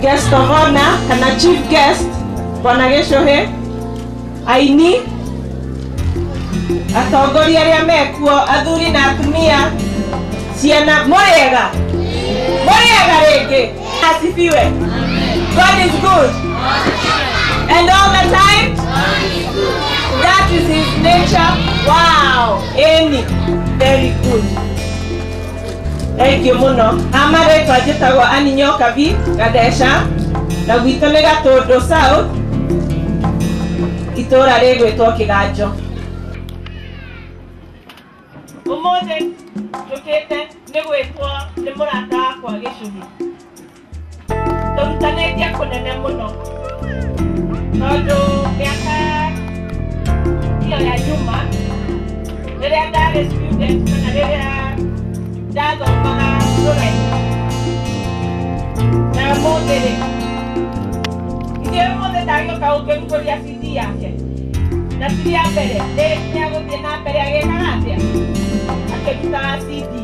guest of honor kana chief guest bwana gĩcũhĩ aini atongoria arĩa mekuo athuri na atumia ciana mũrĩega mũrĩega rĩngĩ asifiwe god is good and all the time that is his nature wow amy very good Thank you muno. Amaretwa njĩtagwo Aninyo Kabi Gadeca na gwitũ nĩ Gatũndũ South itũũra rĩgwĩtwo Kĩganjo. Ũmũthĩ njũkĩte nĩ gwĩtwo nĩ mũrata wakwa gĩcũhĩ. tũrutanĩtie kũnene mũno tondũ mĩaka iyo ya nyuma rĩrĩa ndarĩ student kana rĩrĩa ndathomaga rũraihu na mũthĩ rĩ ithuĩ mũthĩ ndagĩũka ũngĩmkũria cidi yake na cidi ya mbere nĩ ya gũthiĩ na mbere agĩkaga atĩa akĩrutaga cidi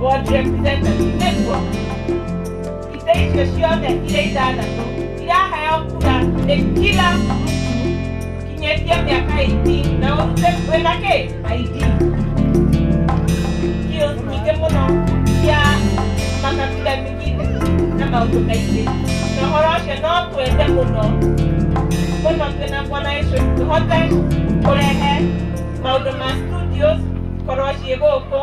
World Dream Center Network ite ichesione ile idana so ile aha ya kula ekila kinyetia miaka iti na ose wenake aidi hiyo nike muno ya makabila mingine na maundu kaingĩ na ũhoro ũcio no twende mũno mũno twĩna mwana Yesu tũhote kũrehe maũndũ ma studios korwo ciĩ gũkũ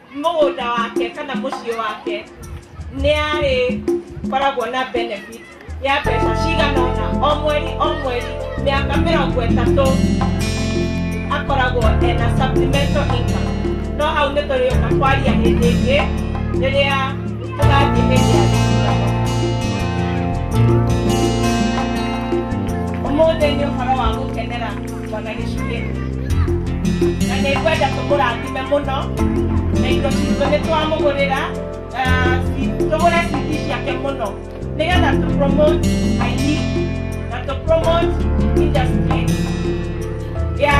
mũgũnda wake kana mũciĩ wake nĩ arĩ koragwo na benefit ya mbeca cigana ũna o mweri o mweri mĩaka mĩrongo ĩtatũ akoragwo ena supplemental income no hau nĩ tũrĩũka kwaria hĩndĩ ĩngĩ rĩrĩa tũgathiĩ hĩndĩ ya gĩthurano ũmũthĩ nĩ ũhoro wa gũkenera Bwana Yesu Kristo. Na nĩ ngwenda tũmũrathime mũno na indo citũ nĩ twamũgũrĩra ah, ci- tũgũre CD ciake mũno nĩgetha tũ promote aini na tũ promote industry ya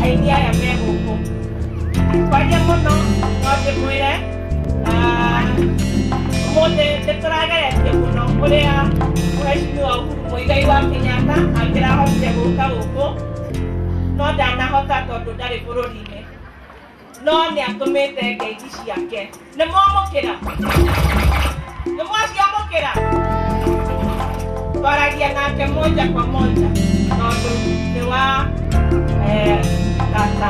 aini aya me gũkũ. Kwaria mũno no ndĩmwĩre ũmũthĩ nĩ tũrageretie mũno ũrĩa mũheshimiwa Uhuru Muigai wa Kenyatta angĩrahotire gũka gũkũ no ndanahota tondũ ndarĩ bũrũri-inĩ no nĩ atũmĩte ngeithi ciake nĩ mwamũkĩra nĩ mwaciamũkĩra twaragia nake moja kwa moja tondũ nĩ wa eh, tata